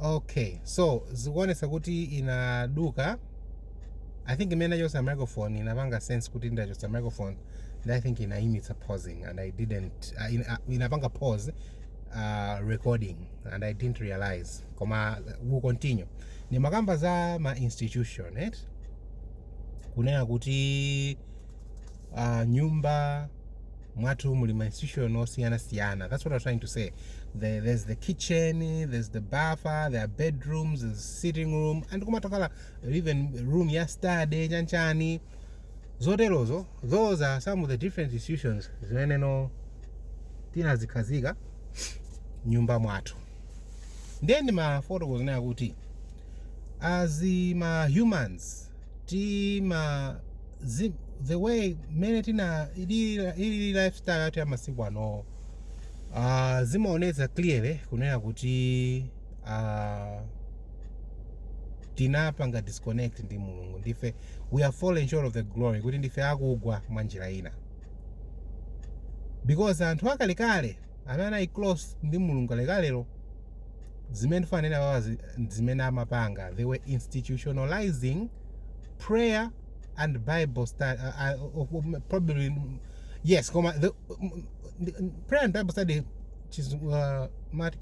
okay so zikuonetsa kuti inaduka i think imene ndachotsa microphone inapanga sense kuti ndachotsa microphone and i think inayimitsa pausing and i didn't uh, in, uh, inapanga pause uh, recording and i didn't realize koma we'll continue ndimakamba za ma institution right? kunena kuti uh, nyumba mwathu muli ma institution osiyana siyana that's what i was trying to say the, there's the kitchen there's the bafa there are bedrooms there's the sitting room and kumatokhala even room ya study chanchani zoterozo those are some of the different institutions zimenezo tinazikhazika nyumba mwathu ndiye ndimafotokoza nayo kuti as ma humans tima zi, the way mmene tina ili ili lifestyle yathu ya masiku anowa uh, zimaonetsa clearly kunena kuti uh, tinapanga disconnect ndi mulungu ndife we are fallen short of the glory kuti ndife akugwa mwa njira ina because anthu akalekale amene anali close ndi mulungu akalekalewo zimene tikunena apazi zimene amapanga they were institutionalizing prayer and bible study uh, uh, uh, probably yes koma the, prayer and bible study is uh,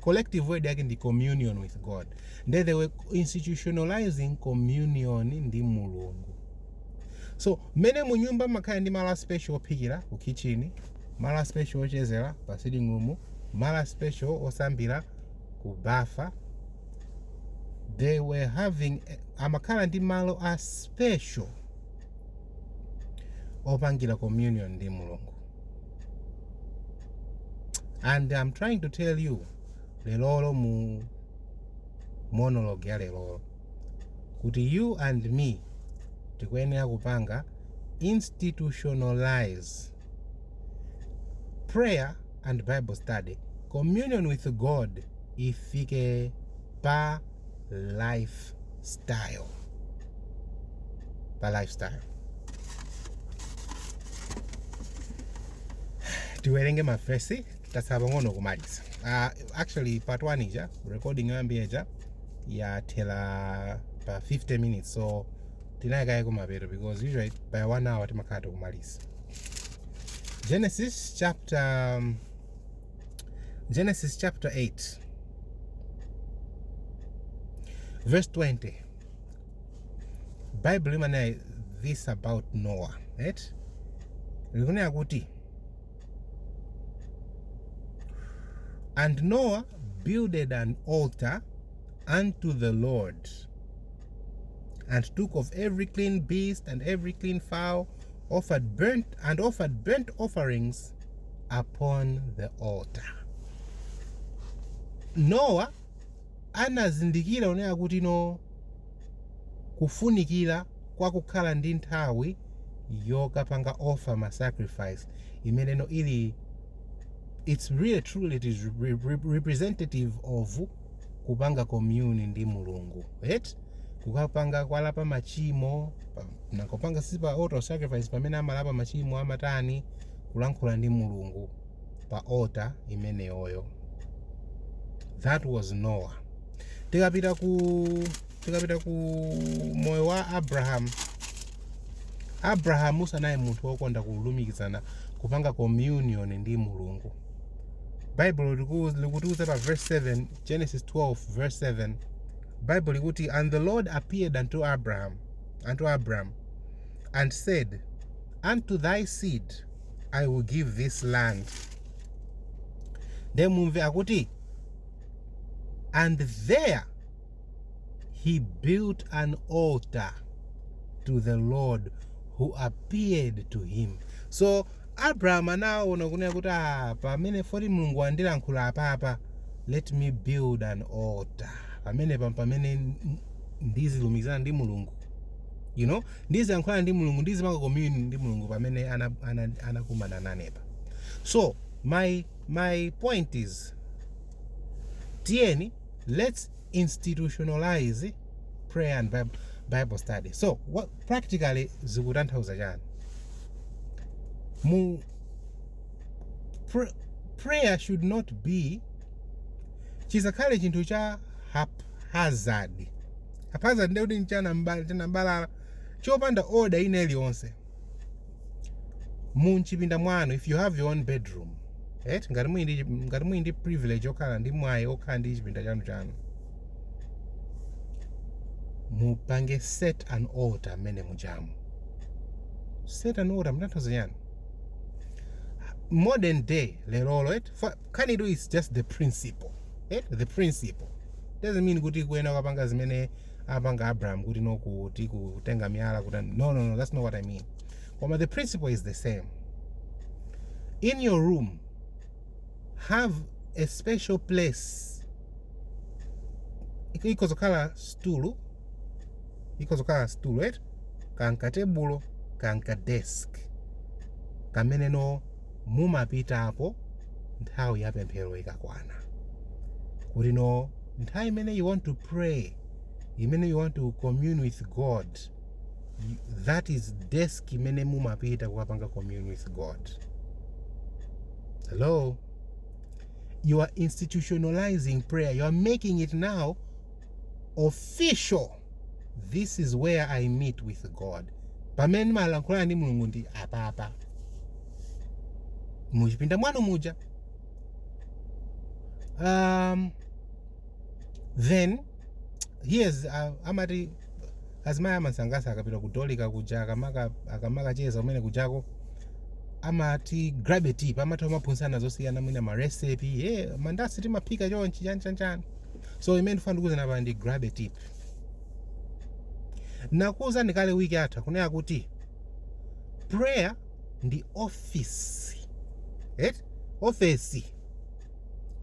collective word yake ndi communion with god nde they were institutionalizing communion ndi mulungu so mmene munyumba mumakhala ndi malo a special ophikira ku kitchen malo a special ochezera pa sitting room malo a special osambira ku bafa they were having amakhala ndi malo a special opangira communion ndi mulungu and i'm trying to tell you lerolo mu monologue ya lerolo kuti you and me tikuyenera kupanga institutionalize Prayer and Bible study, communion with God ifike pa lifestyle. Pa lifestyle. tiwerenge mavesi tatsala pang'ono kumaliza uh, actually part 1 ija recording yoyambira ija yathera pa 50 minutes so tinayika ya kumapeto because usually by 1 hour timakhala tikumaliza Genesis chapter um, Genesis chapter 8 verse 20 Bible limanena this about Noah right likunena kuti and Noah builded an altar unto the Lord and took of every clean beast and every clean fowl, and offered burnt offerings upon the altar. Noah anazindikira yunowu kuti no kufunikira kwa kukhala ndi nthawi yokapanga offer ma sacrifice imene you know ili it's really truly it is representative of kupanga commune ndi mulungu right kukapanga kwalapa machimo nakupanga si pa altar of sacrifice pamene amalapa machimo amatani kulankhula ndi mulungu pa altar imeneyoyo that was noah tikapita ku tikapita ku moyo wa abrahamu abrahamu anali munthu wokonda kulumikizana kupanga communion ndi mulungu baibulo liku- likutiuza pa verse 7 genesis 12 verse 7 bible likuti and the lord appeared unto abraham and said unto thy seed i will give this land then mumve akuti and there he built an altar to the lord who appeared to him so abraham anaona kunena kuti ah, pamene poti mulungu wandilankhula apapa let me build an altar pamenepa pamene ndizilumikizana ndi mulungu you know ndizilankhulana ndi mulungu ndizipanga commune ndi mulungu pamene anakumana nane apa so my point is tiyeni let's institutionalize prayer and bible study so practically zikutanthauza chani mu pr prayer should not be chisakhale chinthu cha haphazard haphazard ndekuti ndi chambalambala chopanda order ina iliyonse m'chipinda mwanu if you have your own bedroom right ngati muli ndi ngati muli ndi privilege okhala ndi mwayi okhala ndi chipinda chanu chanu mupange set an altar mmene mujamu set an altar kutanthauza chani modern day lerolo right kani it's just the principle right the principle doesn't mean kuti koyenera kukapanga zimene amapanga abraham kuti no kuti kutenga miyala kuti no no no that's not what i mean koma the principle is the same in your room have a special place ikhoza kukhala stulu ikhoza kukhala stulu eti kaya ka tebulo kaya ka desk kamene you know mumapitako nthawi ya pemphero ikakwana kuti no nthawi imene you want to pray imene you want to commune with god that is desk imene mumapita kukapanga commune with god hello you are institutionalizing prayer you are making it now official This is where I meet with God. Pamene ndimalankhulana ndi Mulungu ndi apapa. Muchipinda mwanu muja. Um, then here's uh, amati azimayi amasankasa akapita kudolika kuja akamaka akamakacheza kumene kujako amati grab a tip amatha kumaphunzitsana zosiyana mwina ma recipe hey, mandasi timaphika chonchi chani chani chani so imene ndifuna ndikuuzeni apa ndi grab a tip nakuuzani kale wiki yatha kunena kuti prayer ndi office right? office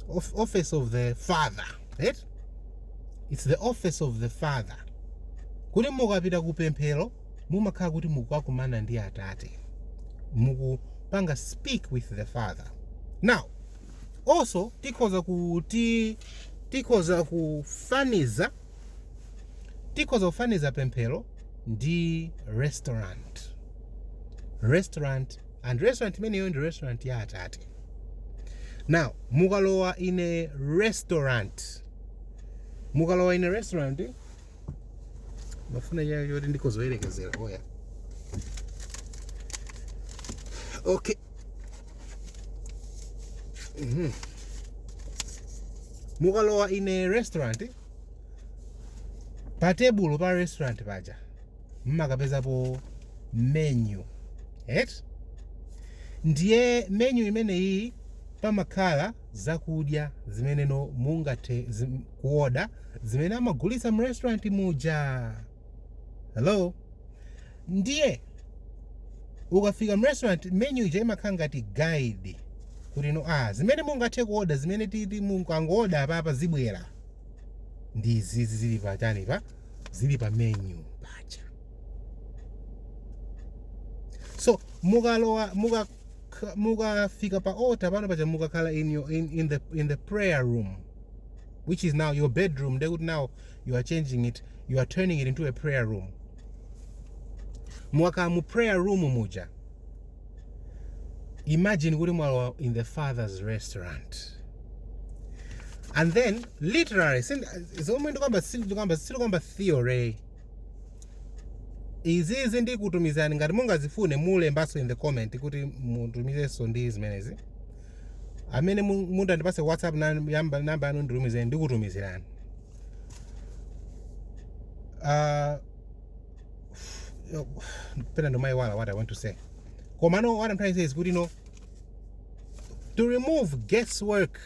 of, office of the father right? it's the office of the father kuti mukapita ku pemphero mumakhala kuti mukukakumana ndi atate mukupanga speak with the father now also tikhoza kuti tikhoza kufaniza tikhoza kufaniza pemphero ndi restaurant restaurant and restaurant imeneyo ndi restaurant ya atate now mukalowa in a restaurant mukalowa in a restaurant mafuna chiyani choti ndikuziyerekezera oya okay mm -hmm. mukalowa in a restaurant pa tebulo pa restaurant paja mmakapezapo menu et ndiye menu imeneyi pamakhala zakudya zimene inu mungathe zim, kuoda zimene amagulitsa mu restaurant muja hello ndiye ukafika mu restaurant menu ija imakhala ngati guide kuti no ah zimene mungathe kuoda zimene titi mukangooda apapa zibwera ndi izizi zili pa chani pa zili pa menu paja so mukalowa muka K mukafika pa altar pano paja mukakhala in your in, in the in the prayer room which is now your bedroom ndekuti now you are changing it you are turning it into a prayer room mukakhala mu prayer room muja imagine kuti mwalowa in the father's restaurant and then literally zomwe ndikamba sindikamba sindikamba theory izizi ndikutumizirani ngati mungazifune mulembanso in the comment kuti mutumizenso ndi zimenezi amene mu- mutandipase whatsapp nan- yamba- namba yanu nditumizeni ndikutumizirani Ah, yo- pena ndimayiwala what i want to say komano what i'm trying to say is kuti no to remove guesswork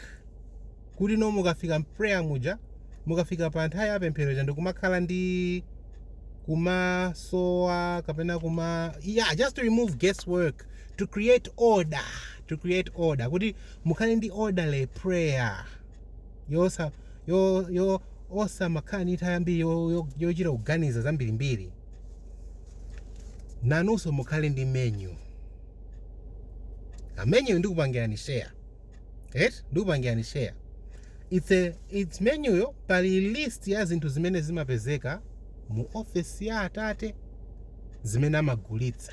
kuti no mukafika mprayer muja mukafika pa nthawi ya pemphero ija ndikumakhala ndi kumasowa kapena kuma yeah just to remove guesswork to create order to create order kuti mukhale ndi orderly prayer yosa yo yo osamakhala ndi nthawi yambiri yo- yo- yochita kuganiza zambirimbiri nanunso mukhale ndi menu imeneyo ndikupangirani share et ndikupangirani share it's a it's menu yo pali list ya zinthu zimene zimapezeka mu office ya atate zimene amagulitsa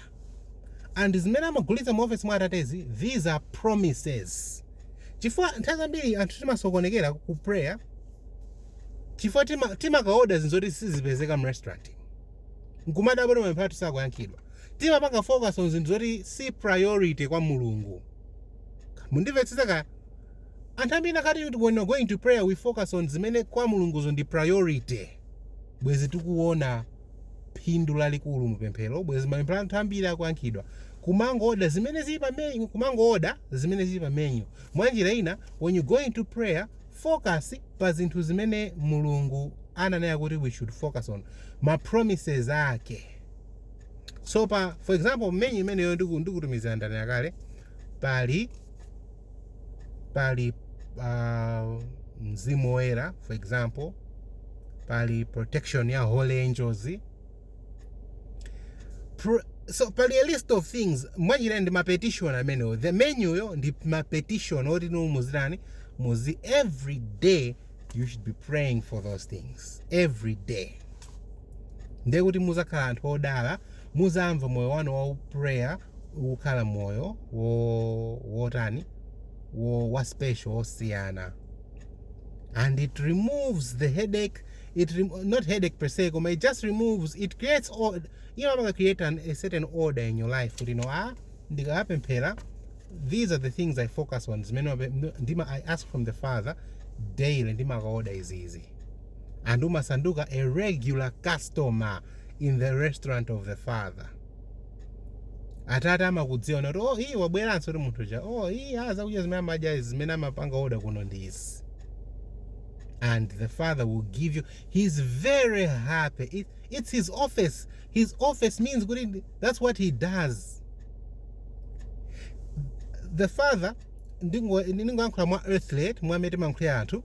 and zimene amagulitsa mu office mwa atatezi these are promises chifukwa nthawi zambiri anthu timasokonekera ku prayer chifukwa tima- timakaoda zinthu zoti sizipezeka mu restaurant nkumadabwa kuti mapemphero athu sakuyankhidwa timapanga focus on zinthu zoti si priority kwa mulungu Mundivetsetse ka anthu ambiri anakhala kuti when we're going to prayer we focus on zimene kwa mulunguzo ndi priority bwezi tikuona phindu lalikulu mu pemphero bwezi mapemphero a anthu ambiri akuyankhidwa kumangooda zimene zili pa menu kumangooda zimene zili pa menu mwa njira ina when you're going to prayer focus pa zinthu zimene mulungu ananena kuti we should focus on ma promises ake so pa for example mmenyu imeneyo ndiku- ndikutumizira ndani yakale pali pali uh, mzimu woyera for example pali protection ya holy angels Pro, so pali a list of things mwachina ndi mapetition amenewo the menuyo ndi mapetition oti inu muzitani muzi every day you should be praying for those things every day ndiye kuti muzakhala anthu odala muzayamba moyo wanu wa prayer ukukhala moyo wo- wotani wo- wa special wosiyana and it removes the headache it rem- not headache per se koma it just removes it creates order you know imaka create an, a certain order in your life kuti no ah ndikamapemphera these are the things i focus on zimene ine I ask from the father daily ndimakaoda izizi and umasanduka a regular customer in the restaurant of the father atate amakudziwa nati oh uyu wabweranso kuti munthu uja oh uyu ah, zakudya zimene amadya zimene amapanga oda kuno ndi izi and the father will give you he's very happy It, it's his office his office means kuti ndi- that's what he does the father ndingo- ndingoyankhula mwa earthly mwa mmene timayankhulira anthu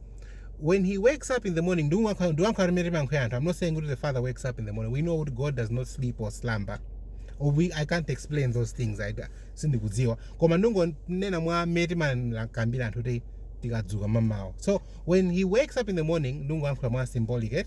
when he wakes up in the morning ndikuyankhula ndikuyankhula mmene timayankhulira anthu i'm not saying kuti the father wakes up in the morning we know kuti god does not sleep or slumber or we, i can't explain those things I, sindikudziwa koma ndingonena mwa mmene timakambira anthu kuti tikadzuka m'mamawa so when he wakes up in the morning ndingoyankhula mwa symbolic it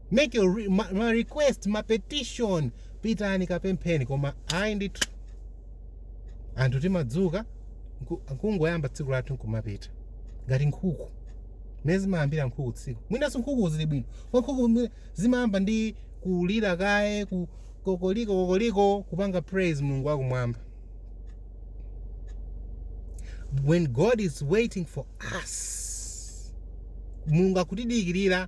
Make your re ma, ma request ma petition pitani kapempheni koma ayi ndithu anthu timadzuka nku- kungoyamba tsiku lathu nkumapita ngati nkhuku mmene zimayambira nkhuku tsiku mwinanso nkhuku zili bwino koma nkhuku mwe- zimayamba ndi kulira kaye kuti kokoliko kokoliko kupanga praise mulungu wakumwamba when god is waiting for us mulungu akutidikirira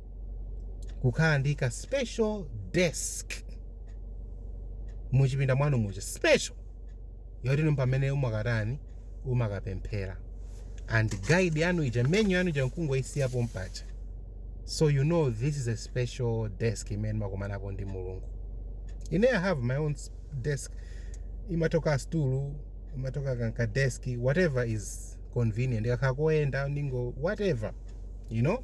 kukhala ndi ka special desk muchipinda mwanu muja special yoti ndi pamene mumakatani mumakapemphera and guide yanu ija menu yanu ija nkungoisiya pompaja so you know this is a special desk imene makumanapo ndi mulungu ine i have my own s- desk imatokhala stool imatokhala kaka desk whatever is convenient kakhala kopenda ndiko whatever you know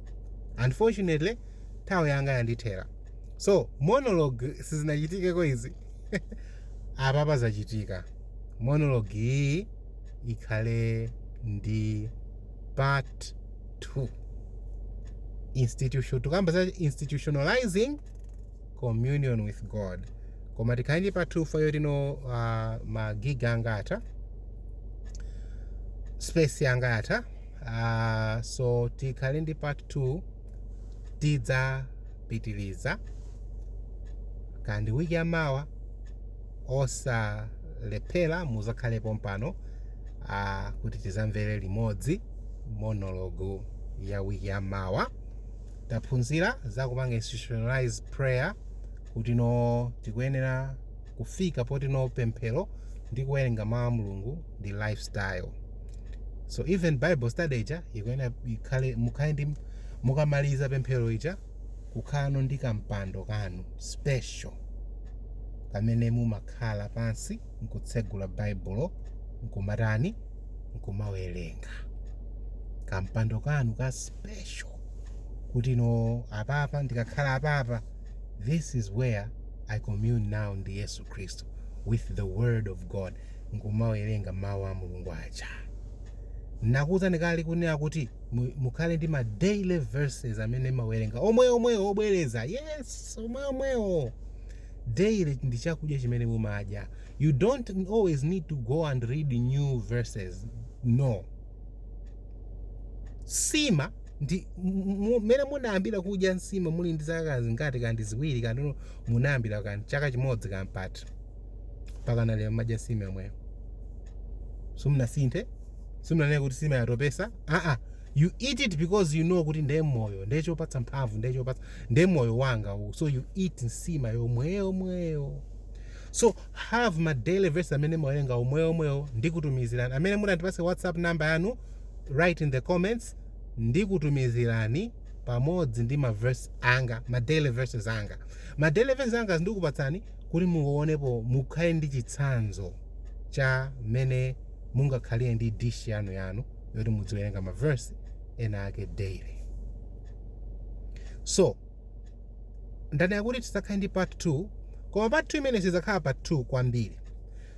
unfortunately nthawi yanga yandithera so monologue sizinachitikeko izi apapa zachitika monologue iyi ikhale ndi part 2 institution tukamba za institutionalizing communion with god koma tikhale ndi part 2 fayilo ino uh, ma gig anga atha space yanga yatha Uh, so tikhale ndi part 2 tidzapitiliza ka ndi wiki yamawa osalephera muzakhale pompano uh, kuti tizamvere limodzi monologue ya wiki yamawa taphunzira za kupanga institutionalize prayer kuti no tikuyenera kufika poti no pemphero ndi kuwerenga mawu a mulungu ndi lifestyle so even bible study ija ikuyenera ikhale mukhale ndi mukamaliza pemphero lija kukhalano ndi kampando kanu special pamene mumakhala pansi nkutsegula baibulo nkumatani nkumawerenga kampando kanu ka special kuti no apapa ndikakhala apapa this is where i commune now ndi yesu khristu with the word of god nkumawerenga mawu a mulungu aja nakuwuzani kale kunena kuti mu- mukhale ndi ma daily verses amene mumawerenga omwe omwewo obwereza yes omwe omwewo daily ndi chakudya chimene mumadya you don't always need to go and read new verses no nsima ndi mmene munayambira kudya nsima muli ndi zaka zingati kaya ndi ziwiri kaya munayambira kaya ndi chaka chimodzi kampata mpaka nalero mmadya nsima yomweyo simunasinthe simunanene kuti nsima yatopesa aa you eat it because you know kuti ndiye moyo ndiye chopatsa mphamvu ndiye chopatsa ndiye moyo wanga uwu so you eat nsima yomweyo mweyo so have ma daily verse amene mumawerenga omweyo omweyo ndikutumizirani amene munatipase whatsapp number yanu write in the comments ndikutumizirani pamodzi ndi ma verse anga ma daily verses anga ma daily verses anga ndikupatsani kuti muonepo mukhale ndi chitsanzo cha mmene mungakhalire ndi list yanu yanu yoti mudziwerenga ma verse ena ake daily so ndanena kuti sizakhala ndi part 2 koma part 2 imene sidzakhala part 2 kwambiri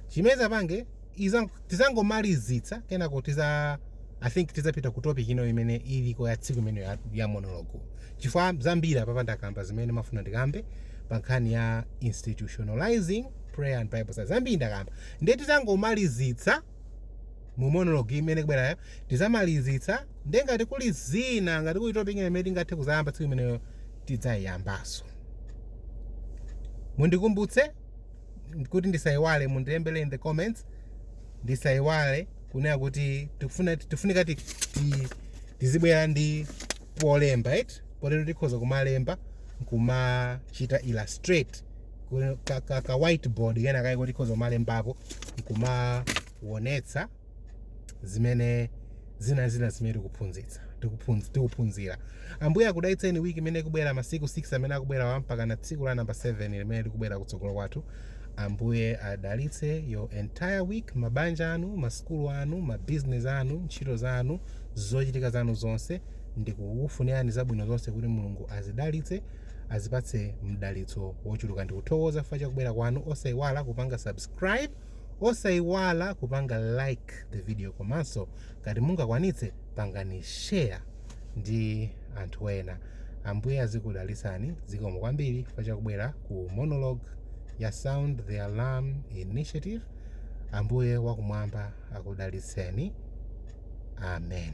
chimene tizapange iza tizangomalizitsa kenako tiza i think tizapita ku topic ina imene iliko ya tsiku limenelo ya, ya monologue chifukwa zambiri apapa ndakamba zimene ndimafuna ndikambe pa nkhani ya institutionalizing prayer and bible study zambiri ndakamba ndiye tizangomalizitsa mu monologue imene ikubwerayo tizamalizitsa ndiye ngati kuli zina ngati kuli topic ina imene tingathe kuzayamba tsiku limenelo tidzayiyambaso mundikumbutse kuti ndisaiwale mundilembere in the comments ndisaiwale kunena kuti tikufuna tifunika ti- ti- tizibwera ndi polemba eti potero tikhoza kumalemba nkumachita illustrate ku- ka, ka, ka whiteboard kena kake tikhoza kumalembapo nkumaonetsa zimene zina zina zimene tikuphunzitsa tikuphunz- tikuphunzira ambuye akudalitseni wiki imene ikubwera masiku 6 amene akubwerawa mpaka na tsiku la namba 7 limene likubwera kutsogolo kwathu ambuye adalitse your entire week mabanja anu masukulu anu mabiziness anu ntchito zanu zochitika zanu zonse ndikukufunirani zabwino zonse kuti mulungu azidalitse azipatse mdalitso wochuluka ndikuthokoza chifukwa chakubwera kwanu osaiwala kupanga subscribe Osaiwala kupanga like the video komanso ngati mungakwanitse pangani share ndi anthu ena. Ambuye azikudalitsani zikomo kwambiri chifukwa chakubwera ku monologue ya Sound the Alarm Initiative. Ambuye wakumwamba akudalitseni. Amen.